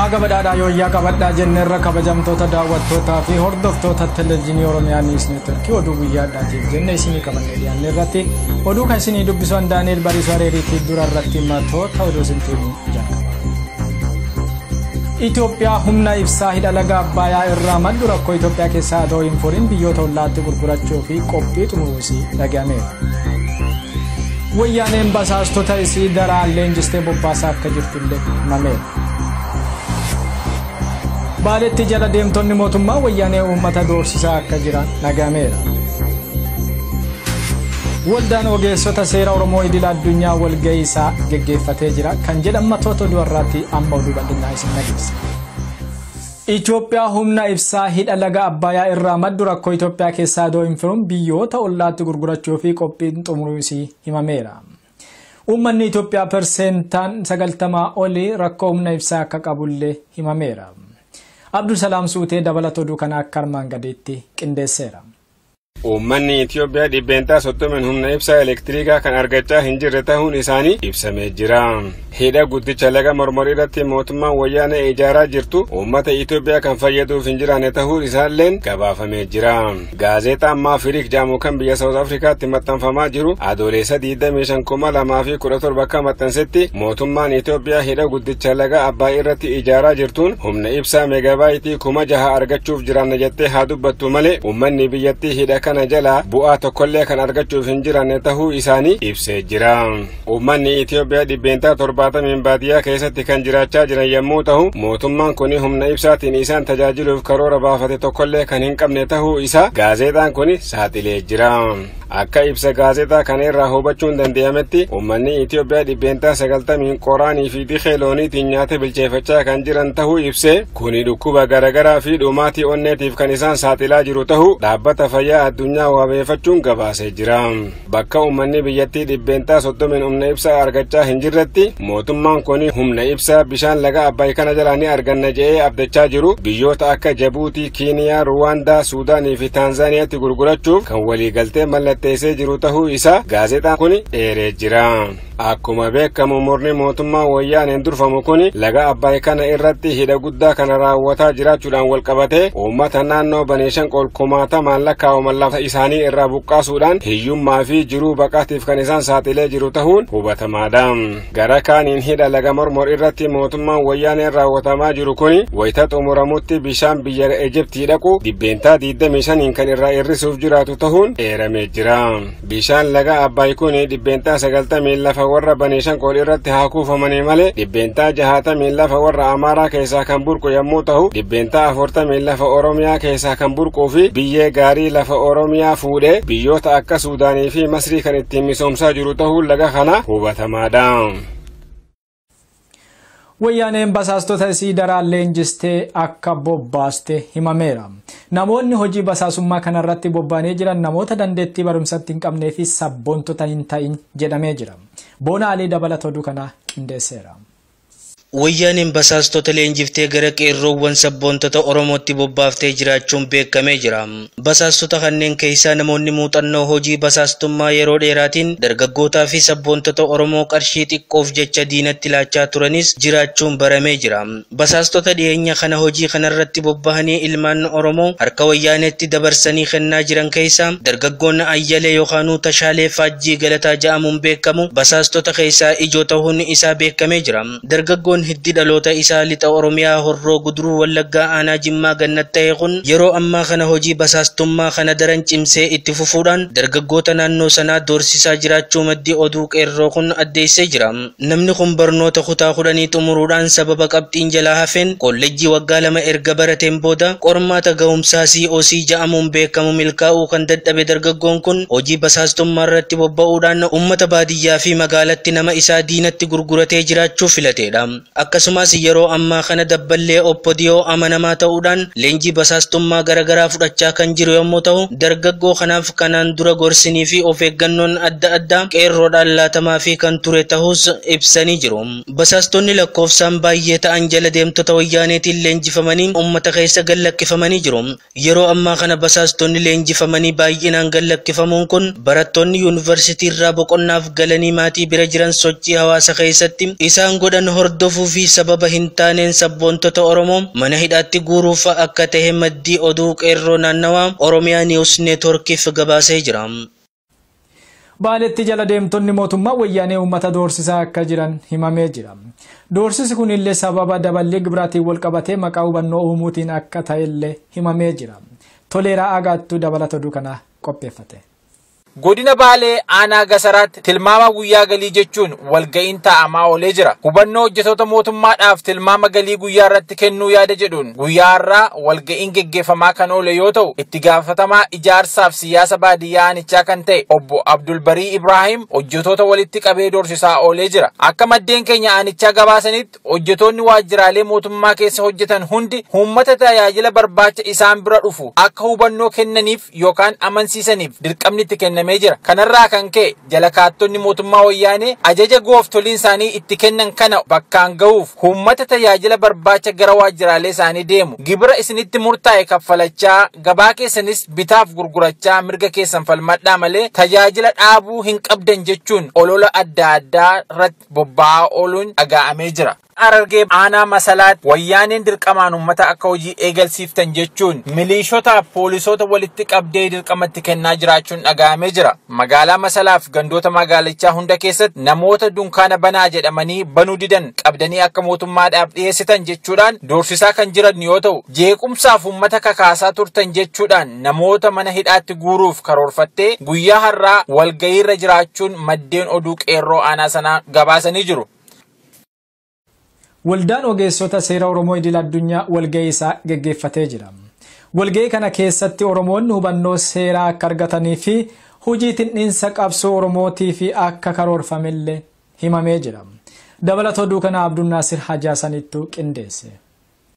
Haga badhaadhaa yooyyaa qabadhaa jenne irra kabajamtoota daawwattootaa fi hordoftoota televezyiinii Oromiyaa Niis Neetworkii oduu guyyaadhaatiif jenne isinii qabannee dhiyaanne irratti oduu kan isinii dubbisu an Daani'eel Bariisoo Areeriitii dura irratti matoota oduu isintii himuu jalqaba. Itoophiyaa humna ibsaa hidha laga Abbaayaa irraa maddu rakkoo Itoophiyaa keessaa adoo hin furiin biyyoota ollaatti gurgurachuu fi qophii xumuruusii dhagahameera. Wayyaaneen basaastota isii daraan leenjistee bobbaasaa akka jirtu Baaleetti jala deemtonni mootummaa wayyaanee uummata doorsisaa akka jiran dhagahameera. Waldaan ogeessota seera Oromoo idil addunyaa walgahii isaa geggeeffatee jira kan jedhan matoota oduu irraatti amma oduu bal'inaa isin dhageessa. Itoophiyaa humna ibsaa hidha laga Abbayaa irraa maddu rakkoo Itoophiyaa keessaa adoo hin firuun biyyoota ollaatti gurgurachuu fi qophiin xumuruu isii himameera. Uummanni Itoophiyaa perseentaan 90 oli rakkoo humna ibsaa akka qabullee himameera. Abdulsalaam Suutee dabalata oduu kanaa akka armaan gadiitti qindeesseera. Uummanni Itoophiyaa dhibbeentaa 30 humna ibsaa elektiriikaa kan argachaa hin jirre tahuun isaanii ibsamee jira. Hidha guddicha laga mormor irratti mootummaan wayyaanee ijaaraa jirtu uummata Itoophiyaa kan fayyaduuf hin jiraanne tahuu isaalleen gabaafamee jira. Gaazeexaan Maafiriik jaamu kan biyya Saawuz Afrikaatti maxxanfamaa jiru Adooleessa 25,2017 akka maxxansetti mootummaan Itoophiyaa hidha guddicha laga Abbaay irratti ijaaraa jirtuun humna ibsaa meegabaayitii kuma jaha argachuuf jiraanna jettee haa dubbattu malee uummanni biyyattii hidha kana jalaa bu'aa tokkollee kan argachuuf hin jiraanne tahuu isaanii ibsee jira. Uummanni Itoophiyaa dhibbeentaa torbaatamiin baadiyyaa keessatti kan jiraachaa jiran yommuu ta'u, mootummaan kun humna ibsaatiin isaan tajaajiluuf karoora baafate tokkollee kan hin qabne ta'uu isaa gaazexaan kun saaxilee jira. Akka ibsa gaazexaa kana irraa hubachuun danda'ametti uummanni Itoophiyaa dhibbeentaa sagaltamiin qoraanii fi dikee looniitiin nyaata bilcheeffachaa kan jiran ta'uu ibsee kuni dhukkuba garaagaraa fi dhumaatii onneetiif kan isaan saaxilaa jiru ta'uu dhaabbata fayyaa addunyaa waabeeffachuun gabaasee jira. Bakka uummanni biyyattii dhibbeentaa soddomiin humna ibsaa argachaa hin jirretti mootummaan kun humna ibsaa bishaan laga Abbaay kana jalaa ni arganna jedhee abdachaa jiru biyyoota akka Jabuutii, Kiiniyaa, Ruwaandaa, Suudaanii fi Taanzaaniyaatti gurgurachuuf kan waliigaltee mallatteessee jiru tahuu isaa gaazexaan kun eeree jira. Akkuma beekamu murni mootummaa Wayyaaneen durfamu kun laga Abbaay kana irratti hidha guddaa kana raawwataa jiraachuudhaan walqabatee uummata naannoo Baneeshanqool kumaatamaan lakkaa'aman lafa isaanii irraa buqqaasuudhaan hiyyummaa fi jiruu baqaatiif kan isaan saaxilee jiru tahuun hubatamaadha. Gara kaaniin hidha laga Mormor irratti mootummaan Wayyaaneen raawwatamaa jiru kun wayita xumuramutti bishaan biyya Ejiptii dhaqu dhibbeentaa 25n kan irraa hir'isuuf jiraatu tahuun eeramee jira. Bishaan laga Abbaay kuni dhibbeentaa sagaltamiin lafa warra Banishankool irratti haa kuufamanii malee dhibbeentaa jahaatamiin lafa warra Amaaraa keessaa kan burqu yommuu tahu dhibbeentaa afurtamiin lafa Oromiyaa keessaa kan burquu fi biyyee gaarii lafa Oromiyaa fuudhee biyyoota akka Suudaanii fi Masrii kan ittiin misoomsaa jiru tahuun laga kana hubatamaadha. Wayyaaneen basaastota isii daraan leenjistee akka bobbaaste himameera. Namoonni hojii basaasummaa kanarratti bobba'anii jiran namoota dandeettii barumsatti hin qabnee fi sabboontota hin ta'in jedhamee jira. Boona Alii dabalata oduu kanaa qindeesseera. Wayyaaneen basaastota leenjiftee gara qeerroowwan sabboontota Oromootti bobbaaftee jiraachuun beekamee jira. Basaastota kanneen keessaa namoonni muuxannoo hojii basaastummaa yeroo dheeraatiin dargaggootaa fi sabboontota Oromoo qarshii xiqqoof jecha diinatti laachaa turanis jiraachuun baramee jira. Basaastota dhiyeenya kana hojii kanarratti bobbahanii ilmaan Oromoo harka Wayyaaneetti dabarsanii kennaa jiran keessaa dargaggoon Ayyalee yookaanuu Tashaalee Faajjii Galataa ja'amuun beekamu basaastota keessaa ijoo tahuun isaa beekamee jira. Dargaggoon hiddi dhaloota isaa Lixa Oromiyaa Horroo Guduruu Wallaggaa Aanaa Jimmaa Gannat tahe kun yeroo ammaa kana hojii basaastummaa kana daran cimsee itti fufuudhaan dargaggoota naannoo sanaa doorsisaa jiraachuu maddi oduu Qeerroo kun addeessee jira. Namni kun barnoota kutaa kudhanii xumuruudhaan sababa qabxiin jalaa hafeen koollejjii waggaa lama erga barateen booda qormaata gahumsaa COC ja'amuun beekamu milkaa'uu kan dadhabe dargaggoon kun hojii basaastummaarratti bobba'uudhaan ummata baadiyyaa biyyaa fi magaalatti nama isaa diinatti gurguratee jiraachuu filateedha. Akkasumaas yeroo ammaa kana dabballee OPDO amanamaa ta'uudhaan leenjii basaastummaa garagaraa fudhachaa kan jiru yommuu ta'u, dargaggoo kanaaf kanaan dura gorsinii fi of eeggannoon adda addaa qeerroodhaan laatamaafii kan ture tahuus ibsanii jiru. Basaastonni lakkoofsaan baayyee ta'an jala deemtota wayyaaneetiin leenjifamanii ummata keessa gad lakkifamanii jiru. Yeroo ammaa kana basaastonni leenjifamanii baay'inaan gad lakkifamuun kun barattoonni yuunivarsitiirraa boqonnaaf galanii maatii bira jiran sochii hawaasa keessatti isaan godhan hordofuufi sababa hintaaneen sabboontota Oromoo mana hidhaatti guuruufa akka tahe maddii oduu Qeerroo Naannawaa Oromiyaa News Network'f gabaasee jira. Baaleetti jala deemtonni mootummaa wayyaanee uummata doorsisaa akka jiran himamee jira. Doorsisi kun illee sababa daballii gibiraatiin walqabatee maqaa hubannoo uumuutiin akka ta'e illee himamee jira. Toleeraa Aagaattuu dabalata oduu kanaa qopheeffate. Godina Baalee aanaa Gasaraatti tilmaama guyyaa galii jechuun walga'iin taa'amaa oolee jira. Hubannoo hojjetoota mootummaadhaaf tilmaama galii guyyaa irratti kennuu yaada jedhuun guyyaa har'aa walga'iin geggeeffamaa kan oole yoo ta'u itti gaafatamaa ijaarsaaf siyaasa baadiyyaa aanichaa kan ta'e obbo Abdulbarii Ibraahim hojjetoota walitti qabee doorsisaa oolee jira. Akka maddeen keenya aanichaa gabaasanitti hojjetoonni waajjiraalee mootummaa keessa hojjetan hundi uummata tajaajila barbaacha isaan bira dhufu akka hubannoo kennaniif yookaan amansiisaniif dirqamni itti kennamee jira. Kanarraa kan ka'e Jalakaattonni mootummaa Wayyaanee ajaja gooftoliin isaanii itti kennan kana bakkaan gahuuf huummata tajaajila barbaacha gara waajjiraalee isaanii deemu gibira isinitti murtaa'e kaffalachaa gabaa keessanis bitaaf gurgurachaa mirga keessan falmadhaa malee tajaajila dhaabuu hin qabdan jechuun olola adda addaa irratti bobba'aa ooluun dhagaa'amee jira. Harargee aanaa Masalaatti wayyaaneen dirqamaan uummata akka hojii eegalsiiftan jechuun miliishotaaf poolisoota walitti qabdee dirqama itti kennaa jiraachuun dhagahamee jira. Magaalaa Masalaaf gandoota magaalichaa hunda keessatti namoota dunkaana banaa jedhamanii banuu didan qabdanii akka mootummaadhaaf dhiyeessitan jechuudhaan doorsisaa kan jiran yoo ta'u jeequmsaaf uummata kakaasaa turtan jechuudhaan namoota mana hidhaatti guuruuf karoorfattee guyyaa har'aa walgahiirra jiraachuun maddeen oduu qeerroo aanaa sanaa gabaasanii jiru. Waldaan Ogeessota Seera Oromoo Idil Addunyaa walga'ii isaa geggeeffatee jira. Walga'ii kana keessatti Oromoonni hubannoo seeraa akka argatanii fi hojii tindhiinsa qabsoo Oromootiif akka karoorfamelle himamee jira. Dabalata oduu kanaa Abdunnaasir Haji Hasaniittu qindeesse.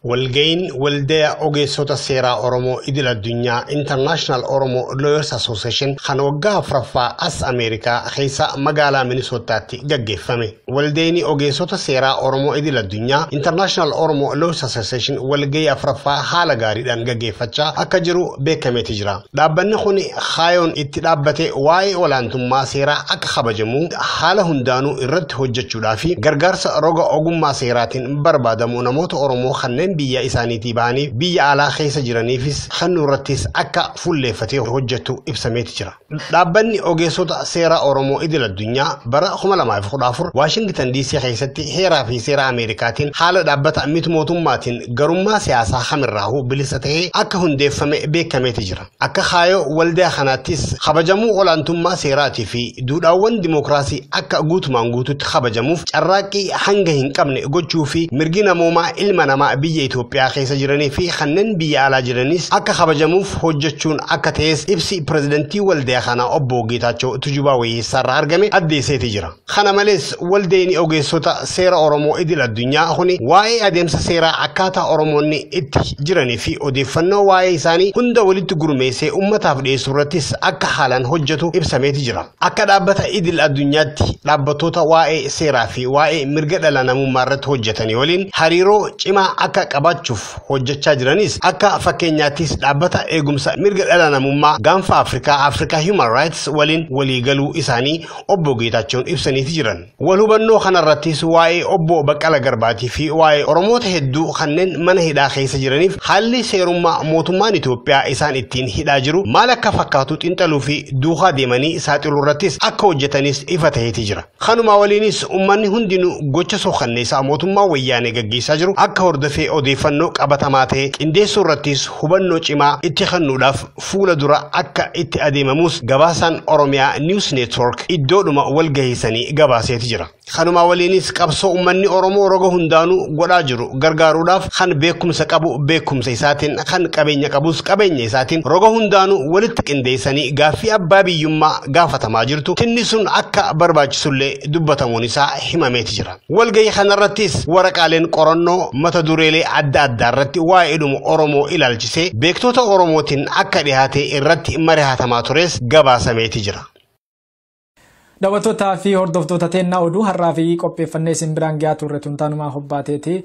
Walga'iin Waldaya Ogeessota Seeraa Oromoo Idil Addunyaa, International Oromo Lawyers Association, kan waggaa afraffaa as Ameerikaa keessa magaalaa Minisoottaatti gaggeeffame. Waldayni Ogeessota Seeraa Oromoo Idil Addunyaa, International Oromo Lawyers Association, walga'ii afraffaa haala gaariidhaan gaggeeffachaa akka jiru beekameeti jira. Dhaabbanni kun kaayoon itti dhaabbate waa'ee olaantummaa seeraa akka kabajamu haala hundaanuu irratti hojjechuudhaa fi gargaarsa roga ogummaa seeraatiin barbaadamu namoota Oromoo kanneen biyya isaaniitii bahanii biyya alaa keessa jiraniifis kennuu irrattis akka fuulleeffatee hojjetu ibsameeti jira. Dhaabbanni ogeessota seeraa Oromoo idil addunyaa bara 2014 Waashingitan DC keessatti heeraa fi seera Ameerikaatiin haala dhaabbata mit mootummaatiin garummaa siyaasaa kamirraahuu bilisa ta'ee akka hundeeffame beekameeti jira. Akka kaayoo waldaa kanaattis kabajamuu olaantummaa seeraatii fi duudhaawwan dimookiraasii akka guutumaan guututti kabajamuuf carraaqqii hanga hin qabne gochuu fi mirgi namoomaa ilma namaa biyya Itoophiyaa keessa jiranii fi kanneen biyya alaa jiranis akka kabajamuuf hojjechuun akka ta'es ibsi pirezidantii waldaa kanaa obbo Geetaachoo Tujubaa Wayyeessaarraa argame addeesseeti jira. Kana malees, Waldayni Ogeessota Seera Oromoo Idil Addunyaa kuni waa'ee adeemsa seeraa akkaataa Oromoonni itti jiranii fi odeeffannoo waa'ee isaanii hunda walitti gurmeessee ummataaf dhiyeessu irrattis akka haalaan hojjetu ibsameeti jira. Akka dhaabbata Idil Addunyaatti dhaabbattoota waa'ee seeraa fi waa'ee mirga dhala namummaa irratti hojjetanii waliin hariiroo cimaa akka qabaachuuf hojjechaa jiranis akka fakkeenyaattis dhaabbata eegumsa mirga dhala namummaa gaanfa Afrikaa, Africa Human Rights, waliin waliigaluu isaanii obbo Geetaachoon ibsaniiti jiran. Wal hubannoo kanarrattis waa'ee obbo Baqqala Garbaatii fi waa'ee Oromoota hedduu kanneen mana hidhaa keessa jiraniif haalli seerummaa mootummaan Itoophiyaa isaan ittiin hidhaa jiru maal akka fakkaatu xinxaluu fi duukaa deemanii saaxiluurrattis akka hojjetanis ifa ta'eeti jira. Kanumaa waliinis ummanni hundinuu gocha suukanneessaa mootummaa wayyaanee gaggeessaa jiru akka hordofee odeeffannoo qabatamaa ta'e qindeessuurrattis hubannoo cimaa itti kennuudhaaf fuula dura akka itti adeemamuus gabaasaan Oromiyaa News Network iddoodhuma walgahiisanii gabaaseeti jira. Kanumaa waliinis qabsoo uummanni Oromoo roga hundaanuu godhaa jiru gargaaruudhaaf kan beekumsa qabu beekumsa isaatiin kan qabeenya qabus qabeenya isaatiin roga hundaanuu walitti qindeessanii gaaffii abbaa biyyummaa gaafatamaa jirtu tinnisuun akka barbaachisullee dubbatamuun isaa himameeti jira. Walgahii kanarrattis waraqaaleen qorannoo mata dureelee adda addaa irratti waa'eedhuma Oromoo ilaalchisee beektoota Oromootiin akka dhihaatee irratti marihatamaa tures gabaasameeti jira. Daawwattootaa fi hordoftoota teennaa oduu har'aa fi qopheeffannee isin biraan gahaa turre tun taanumaa hobbaateeti.